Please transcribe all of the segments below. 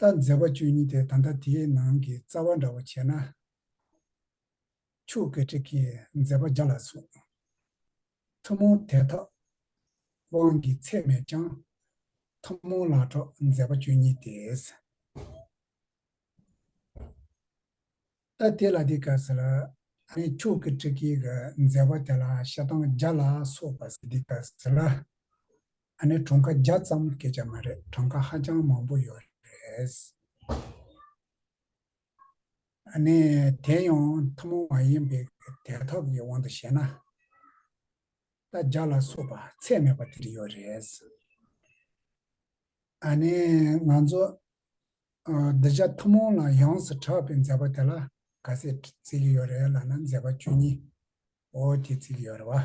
ལྟར་མཛད་པ་བཅུ་གཉིས་ཏེ་ད་ལྟ་དེའི་ནང་གི་རྩ་བ་འདྲ་བར་བྱས་ན། ཆུ་སྐེད་དྲེགས་ཀྱིས་མཛད་པ་བརྒྱ་ལ་གསུངས། ཐུན་མོང་དད་ཐབས་དབང་གི་ཚད་མས་ཀྱང། ཐུན་མོང་ལ་གྲོགས་མཛད་པ་བཅུ་གཉིས་ཏེ། ལྟར་དེ་ལ་དེ་སྐད་ཟེར་ལ། ཆུ་སྐེད་དྲེགས་ཀྱིས་མཛད་པ་དེ་ལ་ཞེ་སྡང་བརྒྱ་ལ་སོགས་པ་འདི་སྐད་ཟེར་ལ། ཨ་ནེ་གྲོང་ཁ་བརྒྱ་ཙམ་སྐད་ཆ་མ་རེད་གྲོང་ཁ་ཧ་ཅང་མང་པོ་ཡོད་རེད། ཨ་ནེ་དེ་ཡང་ཐུན་མོང་མ་ཡིན་པའི་དལ་འཐབ་ཀྱི་དབང་དུ་བྱས་ན། རྟ་རྒྱ་ལ་སོགས་པ་ཚད་མེད་པ་དེ་ཡོད་རེད། ཨ་ནེ་ང་ཚོ་སྡེ་བརྒྱ་ཐུན་མོང་ལ་ཡོངས་སུ་གྲགས་པའི་མཛད་པ་དེ་ལ་ག་ཚད་བརྩི་གི་ཡོད་རེད་ལ་ན་མཛད་པ་བཅུ་གཉིས་འོ་དེ་བརྩི་གི་ཡོད་རེད་བ།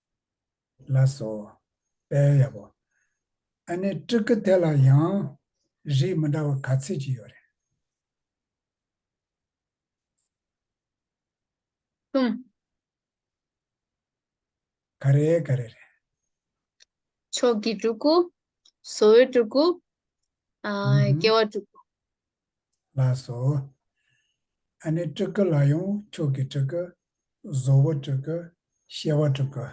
ལགས་སོ། དཔལ་ཡབ་བོ། ཨ་ནི་སྤྲུལ་སྐུ་དེ་ལ་ཡང། རིགས་མི་འདྲ་བ་ག་ཚོད་ཅིག་ཡོད་རེད། གསུམ། ག་རེ་ག་རེ་རེད། མཆོག་གི་སྤྲུལ་སྐུ། བཟོ་བོའི་སྤྲུལ་སྐུ། སྐྱེ་བ་སྤྲུལ་སྐུ། ལགས་སོ། ཨ་ནི་སྤྲུལ་སྐུ་ལ་ཡང་མཆོག་གི་སྤྲུལ་སྐུ། བཟོ་བོ་སྤྲུལ་སྐུ། ཤེས་བ་སྤྲུལ་སྐུ།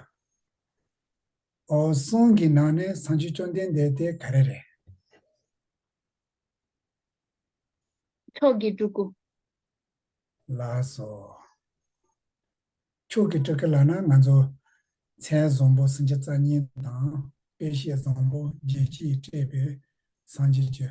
ཨོ། གསུང་གི་ནང་ནས་བསང་ཆུ་བཅོམ་ལྡན་འདས་དེ་ག་རེ་རེད། མཆོག་གི་སྤྲུལ་སྐུ། ལགས་སོ། མཆོག་གི་སྤྲུལ་སྐུ་ལགས་ན་ང་ཚོ་མཚན་བཟང་པོ་སུམ་ཆ་རྩ་གཉིས་དང་དཔེ་བཤད་བཟང་པོ་རྒྱལ་སྤྱིས་སྤྲད་པའི་བསང་ཆུ་བཅུ།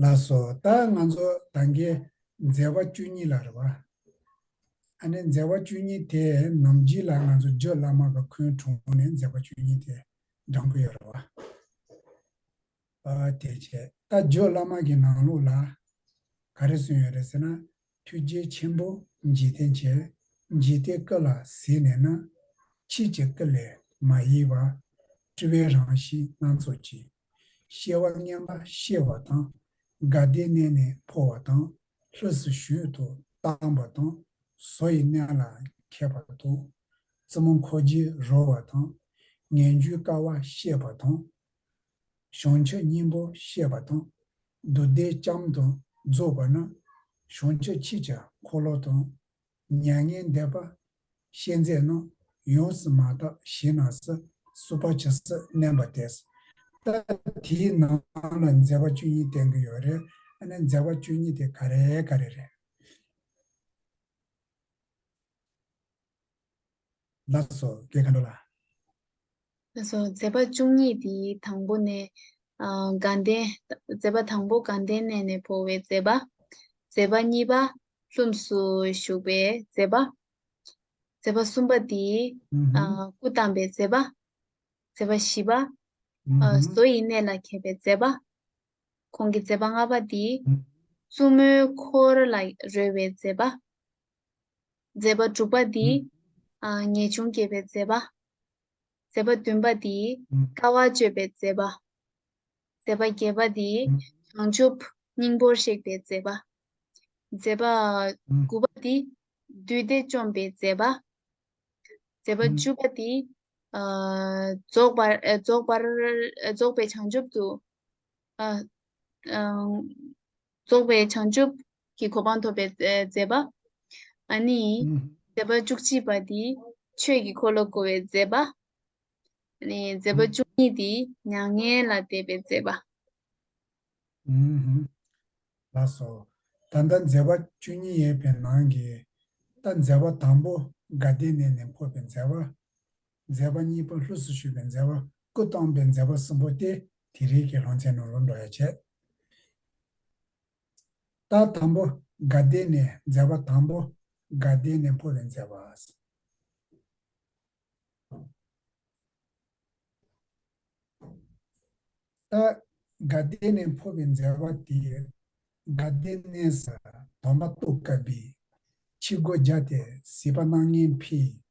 ལ་སོགས་ལྟ་ལྔ་མཚོ་དང་གི་མཛད་པ་བཅུ་གཉིས་ལ་རེ་བ། ཨ་ནི་མཛད་པ་བཅུ་གཉིས་དེ་རྣམས་བགྱིས་ལ་ང་ཚོ་ཇོ་བླ་མ་གི་འཁོན་དྲུང་ནས་མཛད་པ་བཅུ་གཉིས་དེ་འབྲང་གི་ཡོད་རེ་བ། དེ་བྱས་ལྟ་ཇོ་བླ་མ་གི་ནང་ལུགས་ལ་ག་རེ་གསུངས་ཡོད་རེ་ཟེར་ན་ཐུགས་རྗེ་ཆེན་པོ་འཇིག་རྟེན་བྱེད་འཇིག་རྟེན་སྐུ་ལ་གཟིགས་ནས་ན་ཕྱིས་ཀྱི་སྐུ་ལས་མ་གཡེལ་བར་སྤྲུལ་པའི་རང་བཞིན་སྣ་ཚོགས་ཀྱིས། གཤེ་བ་བསྙེན་པ་གཤེ་བ་དང། དགའ་བདེའི་གནས་ནས་འཕོ་བ་དང། ལྷུ་སུ་ཞུས་དུ་བཏང་བ་དང། བཟོ་ཡི་གནས་ལ་མཁས་པ་དང། བཙུན་མོ་འཁོར་རྗེས་རོལ་བ་དང། ངན་འགྱུའི་དཀའ་བ་གཤེ་བ་དང། གཞོང་ཕྱི་གཉིས་པོ་གཤེ་བ་དང། འདུ་འདེགས་ལྕམ་དང་རྫོགས་པ་ན། གཞོང་ཕྱི་ཕྱི་བྱ་འཁོར་ལོ་དང། མྱ་ངན་འདས་པ། ཤེས་མཛད་རྣམས་ཡོངས་སུ་མ་དག་གཞི་ན་ས་སུ་པ་བྱ་ས་མནན་པ་དེས། ལྟ་དེའི་ནང་ལ་མཛད་པ་བཅུ་གཉིས་བསྟན་གྱི་ཡོད་རེད་ཨ་ནི་མཛད་པ་བཅུ་གཉིས་དེ་ག་རེ་ག་རེ་རེད། ལ་སོགས་བརྒྱད་མཁའ་འགྲོ་ལ། ལ་སོགས་མཛད་པ་བཅུ་གཉིས་དེའི་དང་པོ་ནས། དགའ་ལྡན། མཛད་པ་དང་པོ་དགའ་ལྡན་གནས་ནས་འཕོ་བའི་མཛད་པ། མཛད་པ་གཉིས་པ། ལྷུམས་སུ་ཞུགས་པའི་མཛད་པ། མཛད་པ་གསུམ་པ་དེ། སྐུ་བལྟམས་པའི་མཛད་པ། མཛད་པ་བཞི་པ། བཟོ་ཡི་གནས་ལ་མཁས་པའི་མཛད་པ། གོང་གི་མཛད་པ་ལྔ་པ་དེ། བཙུན་མོའི་འཁོར་ལ་རོལ་བའི་མཛད་པ། མཛད་པ་དྲུག་པ་འདི། ངེས་འབྱུང་བསྐྱེད་པའི་མཛད་པ། མཛད་པ་བདུན་པ་འདི། དཀའ་བ་སྤྱོད་པའི་མཛད་པ། མཛད་པ་བརྒྱད་པ་འདི། བྱང་ཆུབ་སྙིང་པོར་གཤེགས་པའི་མཛད་པ། མཛད་པ་དགུ་པ་འདི། བདུད་སྡེ་བཅོམ་པའི་མཛད་པ། མཛད་པ་བཅུ་པ་འདི། རྫོགས་པར་རྫོགས་པར་རྫོགས་པའི་བྱང་ཆུབ་ཏུ། རྫོགས་པའི་བྱང་ཆུབ་ཀྱི་གོ་འཕང་ཐོབ་པའི་མཛད་པ། ནི། མཛད་པ་བཅུ་གཅིག་པ་འདི་ཆོས་ཀྱི་འཁོར་ལོ་བསྐོར་བའི་མཛད་པ། ནི། མཛད་པ་བཅུ་གཉིས་འདི་མྱ་ངན་ལ་དད་པའི་མཛད་པ། ལ་སོགས། ད་ལྟ་མཛད་པ་བཅུ་གཉིས་ཡས་པའི་ནང་གི། ད་མཛད་པ་དང་པོ་དགའ་ལྡན་གནས་ནས་འཕོས་པའི་མཛད་པ། མཛད་པ་གཉིས་པ་ལྷུ་སུ་ཞུས་པའི་མཛད་པ་སྐུ་བལྟམས་པའི་མཛད་པ་གསུམ་པོ་སྟེ་དེ་རིགས་ཀྱི་ལྷོ་མཚན་ནོར་བུ་འགྲོ་ཡ་བྱེད། རྟགས་དང་པོ་དགའ་བདེ་ནས་མཛད་པ་དང་པོ་དགའ་བདེ་ནས་འཕོ་བའི་མཛད་པ། རྟགས་དགའ་བདེ་ནས་འཕོ་བའི་མཛད་པ་དེ་དགའ་བདེ་གནས་ས་དོམ་པ་སྟོད་གབ་པའི་ཕྱི་སྒོ་བརྒྱ་སྟེ་སྲིད་པ་སྣང་བརྙན་འཕེལ་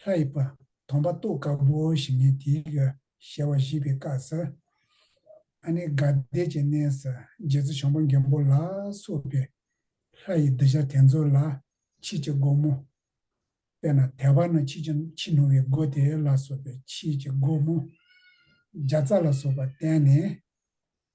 ལྷ་ཡི་བ་དོམ་པ་ཏོག་དཀར་པོ་ཞིག་ནི་དེའི་ག་ཞལ་བ་བཞི་པའི་དཀར་སེར་ཨ་ནི་དགའ་བདེ་ཀྱི་གནས་སུ་རྗེ་བཙུན་ཞང་པོ་མཁན་པོ་ལ་སོགས་པའི་ལྷ་ཡི་གདུལ་བྱ་དེ་ཚོ་ལ་ཕྱིས་ཀྱི་སྒོ་མོ། དཔེར་ན་དལ་བ་ན་ཕྱིས་ཀྱི་ཕྱི་ནུ་བའི་སྒོ་དེ་ལ་སོགས་པའི་ཕྱིས་ཀྱི་སྒོ་མོ། བརྒྱ་རྩ་ལ་སོགས་པ་བསྟན་ནས།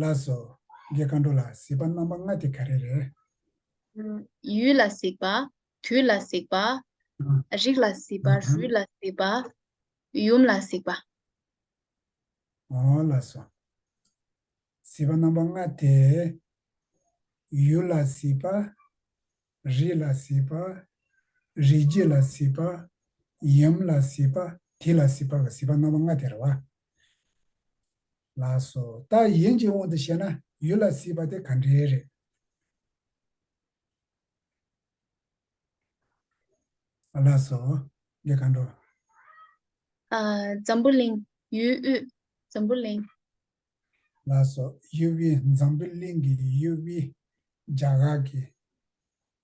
ལ་སོགས། རྒྱའི་མཁའ་འགྲོ་ལ་གཟིགས་པ་རྣམ་པ་ལྔ་དེ་ག་རེ་རེད། ཡུལ་ལ་གཟིགས་པ། དུས་ལ་གཟིགས་པ། རིགས་ལ་གཟིགས་པ། རུས་ལ་གཟིགས་པ། ཡུམ་ལ་གཟིགས་པ། ལ་སོགས། གཟིགས་པ་རྣམ་པ་ལྔ་དེ། ཡུལ་ལ་གཟིགས་པ། རིགས་ལ་གཟིགས་པ། རིགས་རྒྱུད་ལ་གཟིགས་པ། ཡུམ་ལ་གཟིགས་པ། དུས་ལ་གཟིགས་པ། གཟིགས་པ་རྣམ་པ་ལྔ་དེ་རེད་བ། ལགས་སོ། ད་ཡིན་གྱི་དབང་དུ་བྱས་ན་ཡུལ་ལ་སྲིད་པ་དེ་ག་འདྲའི་རེད། ལགས་སོ། འདི་གང་འགྲོ། འཛམ་བུ་གླིང། ཡུལ་དབུས། འཛམ་བུ་གླིང། ལགས་སོ། ཡུལ་དབུས་འཛམ་བུ་གླིང་གི་ཡུལ་དབུས། རྒྱ་གར་གྱི།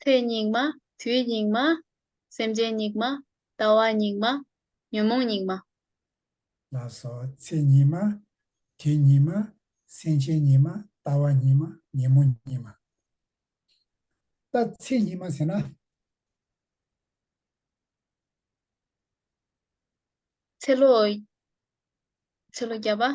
ཚེ་སྙིགས་མ། དུས་སྙིགས་མ། སེམས་ཅན་སྙིགས་མ། ལྟ་བ་སྙིགས་མ། ཉོན་མོངས་སྙིགས་མ། ལ་སོགས་ཚེ་སྙིགས་མ། དུས་སྙིགས་མ། སེམས་ཅན་སྙིགས་མ། ལྟ་བ་སྙིགས་མ། ཉོན་མོངས་སྙིགས་མ། ལྟ་ཚེ་སྙིགས་མ་ཟེར་ན། ཚེ་ལོ། ཚེ་ལོ་བརྒྱ་པ།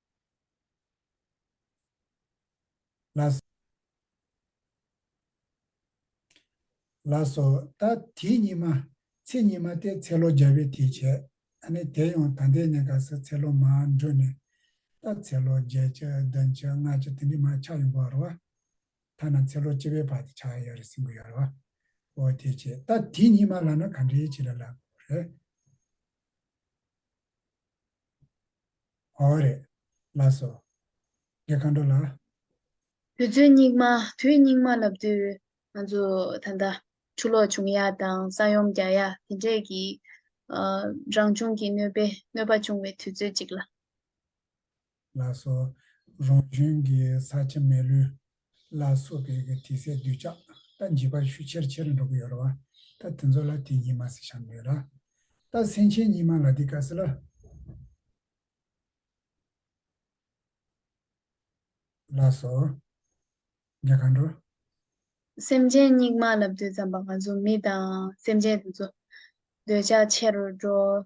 ལ་སོགས། ད་དེའི་ཉི་མ། ཚེས་ཉི་མ་སྟེ་ཚེ་ལོ་བརྒྱ་པའི་དུས་བྱས། ནི་དེ་ཡང་ད་ལྟའི་གནས་སྐབས་སུ་ཚེ་ལོ་མ་འགྲོས་ནས། ད་ཚེ་ལོ་བརྒྱད་ཅུ་བདུན་ཅུ་ལྔ་ཅུ་དེ་འདྲའི་མ་ཆགས་ཡོང་གི་ཡོད་རེད་བ། ཐ་ན་ཚེ་ལོ་བཅུ་པའི་བར་དུ་ཆགས་ཡོད་རེད་གསུང་གི་ཡོད་རེད་བ། འོ་དེ་བྱས་ད་དེའི་ཉི་མ་ལ་ན་ག་འདྲའི་བྱེད་ལ་ལ་དགོས་རེད། གོ་བ་རེད། ལ་སོ། དགེ་མཁའ་འགྲོ་ལགས། དུས་ཚོད་སྙིགས་མ་དུས་སྙིགས་མ་ལབ་དུས་ང་ཚོ་ད་ལྟ་ཆུ་ལོག་བྱུང་ཡ་དང་ས་ཡོམ་རྒྱག་ཡ་དེ་འདྲས་ཀྱི་རང་བྱུང་གི་གནོད་པས་གནོད་པ་བྱུང་བའི་དུས་ཚོད་ཅིག་ལ། ལ་སོ། རང་བྱུང་གི་ས་ཆ་མེད་ལུས། ལ་སོགས་པའི་དྲི་ཟའི་སྡུད་ཆགས་རྟ་འཇིགས་པར་ཤུགས་ཆེར་ཆེར་འགྲོ་གི་ཡོད་ར་བ་ད་དེ་ཚོ་ལ་དེ་ཉིད་མ་སི་ཤ་འདོད་ར་ད་སེང་ཆེན་ཉིད་མ་ལ་དི་ཀ་སི་ལ། ལ་སོགས། འདྲེ་གང་འགྲོ། སེམས་ཅན་སྙིགས་མ་ལ་བདུད་ཙམ་པ་ང་གཟུགས་མི་དང་སེམས་ཅན་དེ་ཚོ། འདོད་ཆགས་ཆེ་རུ་འགྲོ།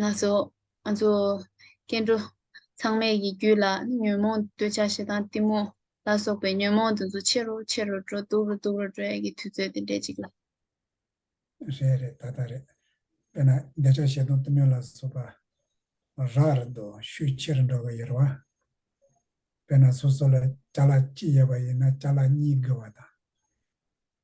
ལ་སོགས་ང་ཚོ་སྐྱེ་འགྲོ་ཚང་མས་ཡིད་རྒྱུད་ལ་ཉོན་མོངས་འདོད་ཆགས་ཞེ་སྡང་གཏི་མུག་ལ་སོགས་པའི་ཉོན་མོངས་དེ་ཚོ་ཆེ་རུ་ཆེ་རུ་འགྲོ་སྡུག་རུ་སྡུག་རུ་འགྲོ་ཡ་གི་དུས་ཚོད་དེ་འདྲས་ཅིག་ལ། རེད་རེད་ད་ལྟ་རེད། དཔེར་ན་འདོད་ཆགས་ཞེ་སྡང་གཏི་མུག་ལ་སོགས་པ་རགས་རེད་འདུག་ཤུགས་ཆེ་རུ་འགྲོ་གི་ཡོད་རེད་བ། དཔེར་ན་སོ་སོ་ལ་བྱ་ལ་གཅིག་ཡོད་པ་ཡིན་ན་བྱ་ལ་གཉིས་དགོས་བ་དང།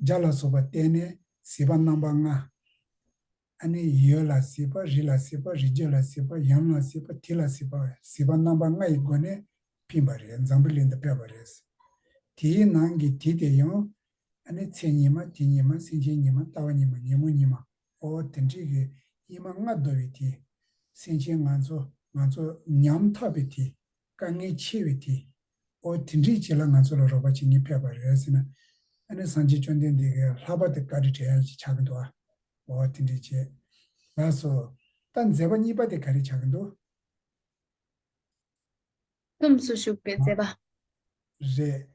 སྦྱར་ལ་སོགས་པ་བསྟན་ནས་སྲིད་པ་རྣམ་པ་ལྔ། ཨ་ནི་ཡོད་ལ་སྲིད་པ་རི་ལ་སྲིད་པ་རི་རྒྱུད་ལ་སྲིད་པ་ཡམས་ལ་སྲིད་པ་དུས་ལ་སྲིད་པ་སྲིད་པ་རྣམ་པ་ལྔ་ཡི་སྒོ་ནས་ཕིན་པ་རེད་འཛམ་བུ་གླིང་དུ་བསྐྲད་པ་རེད། དེའི་ནང་གི་དུས་དེ་ཡང། ཨ་ནི་ཚེ་ཉི་མ་དུས་ཉི་མ་སེམས་ཅན་ཉི་མ་ལྟ་བ་ཉི་མ་ཉིན་མོ་ཉི་མ་ཨོ་དེ་འདྲིས་གི་དབྱིན་མ་ལྔ་བདོ་བའི་དུས། སེམས་ཅན་ང་ཚོ་ང་ཚོ་ཉམ་ཐག་པའི་དུས། དཀའ་ངལ་ཆེ་བས་དེ། འོ་དེ་འདྲས་བྱས་ལ་ང་ཚོ་ལ་རོགས་པ་བྱེད་ངེས་ཕེབས་པ་རེད་ཟེར་ན། ཨ་ནི་སངས་རྒྱས་བཅོམ་ལྡན་འདས་ཀྱིས་ལྷག་པར་དུ་བཀའ་དྲིན་དྲན་ཡག་ཅིག་བྱ་གི་འདུག་ཨ། འོ་དེ་འདྲས་བྱས། ལགས་སོ། ལྟ་མཛད་པ་གཉིས་པ་དེ་ག་རེ་བྱ་གི་འདུག། ལྷུམས་སུ་ཞུགས་པའི་མཛད་པ། རེད།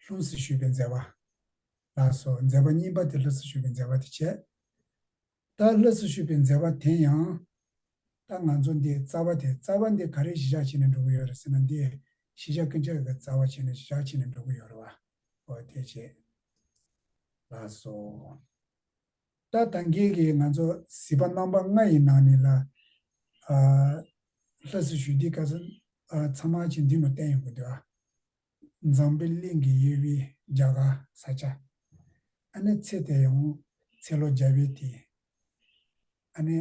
ལྷུམས་སུ་ཞུགས་པའི་མཛད་པ། ལགས་སོ། མཛད་པ་གཉིས་པ་དེ་ལྷུས་སུ་ཞུགས་པའི་མཛད་པ་དེ་བྱས། རྟ་བློས་སུ་ཤུད་པའི་མཛད་པ་དེ་ཡང། ད་ང་ཚོ་འདི་རྩ་བ་དེ་རྩ་བ་འདི་ག་རེ་གཞི་བཞག་བྱས་ནས་འགྲོ་གི་ཡོད་རེད་ཟེར་ན་འདི་གཞི་བཞག་གི་འཇག་གི་རྩ་བ་བྱས་ནས་བཞག་བྱས་ནས་འགྲོ་གི་ཡོད་རེད་བ། ཨོ་དེ་བྱས། ལགས་སོ། ད་ད་འགེལ་གི་ང་ཚོ་གཟིགས་པ་རྣམ་པ་ལྔ་ཡི་ནང་ནས་ལ། བློས་སུ་ཤུད་འདི་ག་ཚོ། ཚང་མ་ཅིག་འདི་ནོ་བསྟན་ཡོང་གི་འདུག་ཨ། འཛམ་བུའི་གླིང་གི་དབྱེ་བའི་རྒྱ་གར་ས་ཆ། ཨ་ནི་ཚེ་དེ་ཡང་ཚེ་ལོ་བརྒྱ་བའི་དུས། ཨ་ནི་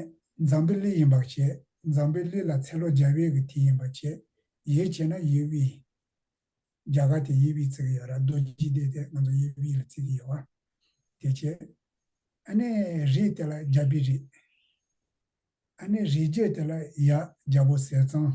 འཛམ་བུའི་གླིང་ཡིན་པར་བཤད་འཛམ་བུའི་གླིང་ལ་ཚེ་ལོ་བརྒྱ་བའི་གི་དུས་ཡིན་པར་བཤད་ཡིད་ཆེས་ན་དབྱེ་བའི་རྒྱ་གར་དེ་དབྱེ་བའི་བརྩི་གི་ཡོད་ར་རྡོ་རྗེ་འདི་དེ་ང་ཚོ་དབྱེ་བའི་ལ་བརྩི་གི་ཡོད་བ་དེ་ཆེ། ཨ་ནི་རི་དེ་ལ་རྒྱ་བི་རི། ཨ་ནི་རི་རྒྱལ་དེ་ལ་ཡ་རྒྱ་བོ་ཟེར་ཙང།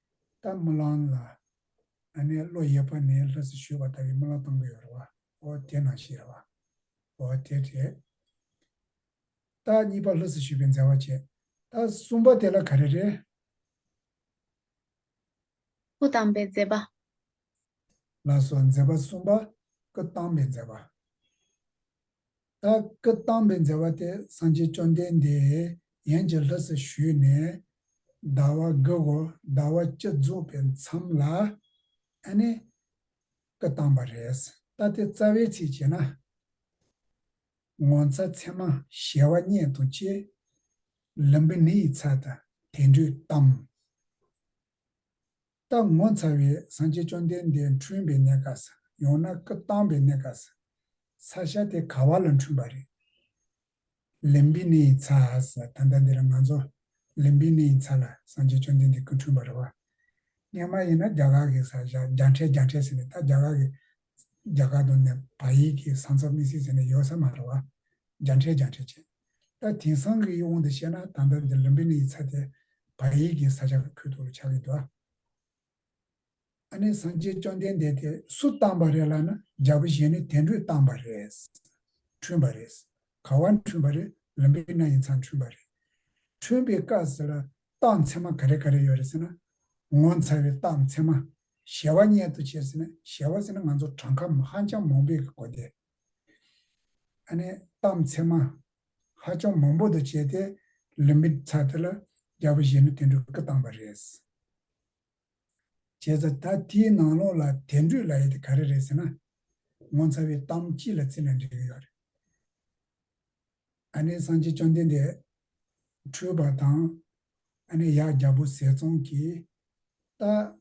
རྟ་རྨི་ལང་ལ། ང་ནི་བློ་ཡས་པ་ནི་ལྷ་སྲི་ཞུས་པ་ལྟ་བུའི་རྨི་ལང་གཏོང་གི་ཡོད་རེད་བ། ཨོ་དེས་ན་ཞེས་རེད་བ། ཨོ་དེ་རེད། རྟ་གཉིས་པ་ལྷ་སྲི་ཞུས་པས་མཛའ་བ་བྱས། རྟ་གསུམ་པ་དེ་ལ་ག་རེ་རེད། སྐུ་དམ་པའི་མཛད་པ། ལ་སོགས་མཛད་པ་གསུམ་པ་སྐུ་བལྟམས་པའི་མཛད་པ། ད་སྐུ་བལྟམས་པའི་མཛད་པ་དེ་སངས་རྒྱས་བཅོམ་ལྡན་འདས་ཡན་གྱི་ལྷུ་སུ་ཞུས་ནས་ཟླ་བ་དགུ་བོ་ཟླ་བ་བཅུ་རྫོགས་པའི་མཚམས་ལ་ཨ་ནི་སྐུ་བལྟམས་པ་རེད། ད་དེ་རྩ་བའི་ཚིག་བྱས་ན། ངོ་མཚར་མཚན་མ་གཞལ་བ་སྙེད་དང་བཅས། ལུམྦི་ནི་ཡི་ཚ་དང་དེ་འདྲུད་གཏམས། རྟག་ངོ་མཚར་བའི་སངས་རྒྱས་བཅོམ་ལྡན་འདས་འཁྲུངས་པའི་གནས་ག་ས་ཡང་ན་སྐུ་བལྟམས་པའི་གནས་ག་ས། ས་ཤ་དེ་ག་བ་ལ་འཁྲུངས་པ་རེད། ལིམ་བི་ནི་ཡི་ཚ་ད་ལྟ་འདི་ལ་ང་ཚོ་ལིམ་བི་ནི་ཡི་ཚ་ལ་སངས་རྒྱས་བཅོམ་ལྡན་འདས་སྐུ་འཁྲུངས་པ་རེད་བ། གཉེན་མ་ཡིན་ན་རྒྱ་གར་གི་ས་ཤ་རྒྱ་འཕྲད་རྒྱ་འཕྲད་ཟེར་ནས་ད་རྒྱ་གར་གི་རྒྱ་གར་དུ་ནས་བ་ཡིག་གི་ས་མཚོ་མི་སྲིད་ཟེར་ནས་ཡོད་ས་མ་རེད་བ། རྒྱ་འཕྲད་རྒྱ་འཕྲད་བྱས། ད་དེང་སང་གི་དབང་དུ་བཤད་ན་ད་ལྟ་འདིར་རིམ་པས་ནི་ཡི་ཚ་སྟེ་བྃ་ཡིག་གི་ས་ཆ་ཁུད་དུ་ཆགས་ཡོད་དོ། ཨ་ནི་སངས་རྒྱས་བཅོམ་ལྡན་འདས་དེ་སུ་བཏང་བ་རེད་ལ་ན་རྒྱལ་པོ་གཞན་ནི་དེ་འགྲོས་བཏང་བ་རེད། འཁྲུན་པ་རེད། ག་བ་འཁྲུན་པ་རེད་རིམ་པས་ན་ཡི་ཚ་འཁྲུན་པ་རེད། འཁྲུན་པའི་སྐབས་སུ་ལ་རྟགས་མཚན་མ་ག་རེ་ག་རེ་ཡོད་རེད་ཟེར་ན། ངོ་མཚར་བའི་རྟགས་མཚན་མ། གཞལ་བ་མྱེད་དོ་བྱས་ཟེར་ན་གཞལ་བ་ཟེར་ན་ང་ཚོ་བྲང་ཁ་ཧ་ཅང་མང་པོས་གོ་སྟེ། གཏམ་ཚད་མ་ཧ་ཅང་མང་པོ་དང་བཅས་ཏེ་ལིམིཏ་ཚ་དེ་ལ་རྒྱ་བོད་གཞས་ནུ་དེ་འདྲ་སྐུ་བཏང་པ་རེད། བྱས་ཙང་ད་དེའི་ནང་ལོགས་ལ་དེ་འདྲུས་ལ་ཡོད་དེ་ག་རེ་རེད་ཟེར་ན། ངོ་མཚར་བའི་གཏམ་སྤྱི་ལ་རྩིས་ན་འདྲི་གི་ཡོད་རེད། སངས་རྒྱས་བཅོམ་ལྡན་འདས་འཁྲུལ་པ་དང། ཡག་རྒྱ་བོ་ཟས་གཙང་གིས། རྟ།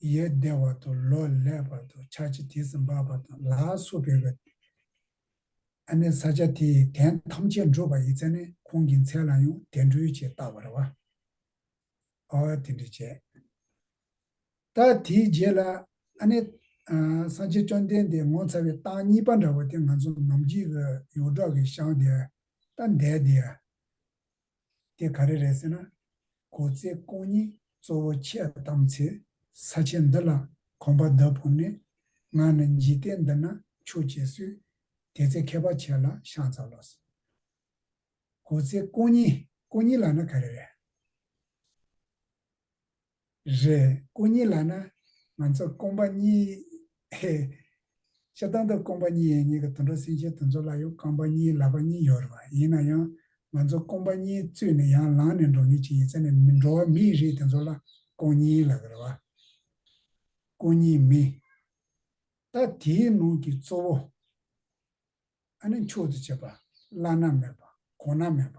ཡས་བདེ་བ་དང་ལོ་ལེགས་པ་དང་ཆར་གྱི་དུས་སུ་འབབ་པ་དང་ལ་སོགས་པའི་བའི་ཨ་ནི་ས་ཆ་དེའི་གདན་ཐམས་ཅད་འགྲུབ་པ་ཡི་ཚད་ནི་ཁོང་གི་མཚན་ལ་ཡང་དེ་འགྲུབ་ཅེས་བཏགས་པར་བ་ཨ་ཨོའི་དེ་འདྲས་བྱས། ད་དེའི་རྗེས་ལ་ཨ་ནི། སངས་རྒྱས་བཅོམ་ལྡན་འདས་ངོ་མཚར་བའི་གཏམ་གཉིས་པ་འདྲ་བོ་དེ་ང་ཚོ་ནམ་རྒྱུན་གྱི་ཡོངས་གྲགས་ཀྱི་ཞང་དེ་ད་འདས་དེ། དེ་ག་རེ་རེད་ཟེར་ན། གོ་ཚེ་སྐོང་གཉིས་གཙོ་བོ་ཁྱེད་བདམས་ཚེ་ས་ཆེན་འདི་ལ་གོམ་པ་འདབ་བོར་ནས་ང་ནི་འཇིག་རྟེན་འདི་ན་ཆོས་བྱེད་སུས་དེ་ཚེ་མཁས་པ་ཁྱེད་ལ་ཤངས་ཚ་ལོས། གོ་ཚེ་སྐོང་གཉིས་སྐོང་གཉིས་ལ་ནི་ག་རེ་རེད། རེད། སྐུ་ཉིད་ལ་ན་ང་ཚོ་སྐོམ་པ་གཉིས། ཧེ། སྤྱིར་བཏང་དུ་སྐོམ་པ་གཉིས་ཡིན་ངེས་ཀྱི་དུད་འགྲོ་སེམས་ཅན་དེ་ཚོ་ལ་ཡང་རྐང་པ་གཉིས་ལག་པ་གཉིས་ཡོད་རེད་བ་ཡིན་ན་ཡང་ང་ཚོ་སྐོམ་པ་གཉིས་བཙོས་ནས་ཡང་ལངས་ནས་འགྲོ་ངེས་ཅི་ཡིན་ཟེར་ནས་མི་འགྲོ་བ་མི་ཡི་རིགས་དེ་ཚོ་ལ་སྐོམ་གཉིས་ལག་རེད་བ། སྐོམ་གཉིས་མི། ད་དེའི་ནང་གི་གཙོ་བོ། ཨ་ནི་མཆོག་ཏུ་བྱེད་པ། བླ་ན་མེད་པ། གོང་ན་མེད་པ།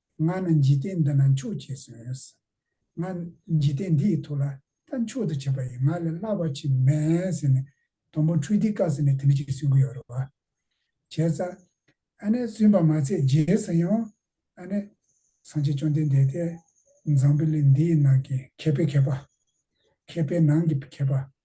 ང་ནི་འཇིག་རྟེན་འདི་ན་མཆོག་བྱས་གསོན། ང་འཇིག་རྟེན་འདི་ཡི་ཐུགས་ལ་ད་མཆོག་ཏུ་བྱས་པ་ཡིས་ང་ལས་སླ་བར་ཕྱིན་མེད་ཟེར་ནས་དང་པོ་འཕྲུལ་སྡེའི་བཀའ་ཟེར་ནས་དེ་འདྲི་གཅིག་གསོན་གི་ཡོད་རེད་བ། བྱས་ཙང་ཨ་ནེ་གསོན་པ་མ་ཚད་རྗེས་སུ་ཡང་ཨ་ནེ། སངས་རྒྱས་བཅོམ་ལྡན་འདས་དེས་འཛམ་བུ་གླིང་འདི་ཡི་ནང་གི་མཁས་པའི་མཁས་པ། མཁས་པའི་ནང་གི་མཁས་པ།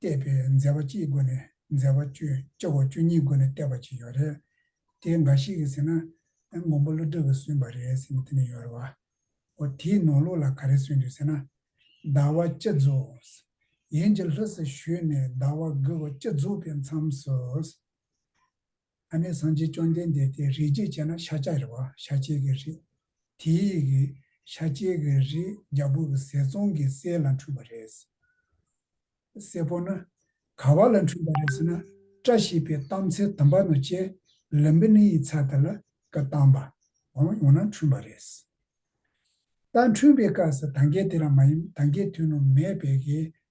བལྟས་པས་མཛེས་པ་གཅིག་དགོས་ནས་མཛེས་པ་བཅུ་བཅུ་བ་བཅུ་གཉིས་དགོས་ནས་བལྟས་པ་གཅིག་ཡོད་རེད། དེ་འགའ་ཞིག་གིས་ཟེར་ན། མགོན་པོ་ཀླུ་སྒྲུབ་ཀྱིས་བསུན་པ་རེད་ཟེར་ནས་དེ་ནས་ཡོད་རེད་བ། འོ་དེའི་ནང་ལུགས་ལ་ག་རེ་བསུན་དུས་ཟེར་ན། ཟླ་བ་བཅུ་རྫོགས། ཡན་གྱི་ལྷུ་སུ་བཞུད་ནས་ཟླ་བ་དགུ་བ་བཅུ་རྫོགས་པའི་མཚམས་སུ། ཨ་ནེ་སངས་རྒྱས་བཅོམ་ལྡན་འདས་དེའི་རིགས་ཅེས་བྱས་ན་ཤཱཀྱ་རི་བ་ཤཱ་ཀྱའི་གི་རིགས། དེའི་ཡི་གེ། ཤཱ་ཀྱའི་གི་རིགས་རྒྱ་བོད་ཀྱི་ཟས་ཙོང་གི་སྲས་ལ་འཁྲུངས་པ་རེད། སྲས་པོ་ན། ག་བ་ལ་འཁྲུངས་པ་རེད་ཟེར་ན། བཀྲ་ཤིས་པའི་གཏམ་ཚེ་དུམ་པ་ནོ་ཅེ་ལུམ་པི་ནི་ཡི་ཚ་དེ་ལ་ཀི་གཏམ་པ་འོང་ཡོང་ན་འཁྲུངས་པ་རེད། ད་འཁྲུངས་པའི་སྐབས་སུ་ད་གའི་དེ་ར་མ་ཡིན་ད་གའི་དུས་ནོ་མེད་པའི་གི་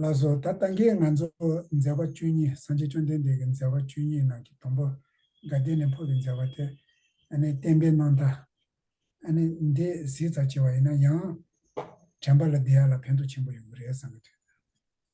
ལ་སོགས་ད་ལྟ་འགའི་ང་ཚོ་མཛད་པ་བཅུ་གཉིས་སངས་རྒྱས་བཅོམ་ལྡན་འདས་ཀྱི་མཛད་པ་བཅུ་གཉིས་ནང་གི་དང་པོ་དགའ་ལྡན་ནས་འཕོ་བའི་མཛད་པ་དེ་ནི་བསྟན་པའི་ནང་དང། འདི་གཟིགས་ཙག་ཆེ་བ་ཡིན་ན་ཡང་དྲན་པ་ལ་བདེ་ཡག་ལ་ཕན་ཐོགས་ཆེན་པོ་ཡོང་གི་རེད་བསམ་པའི་དུས།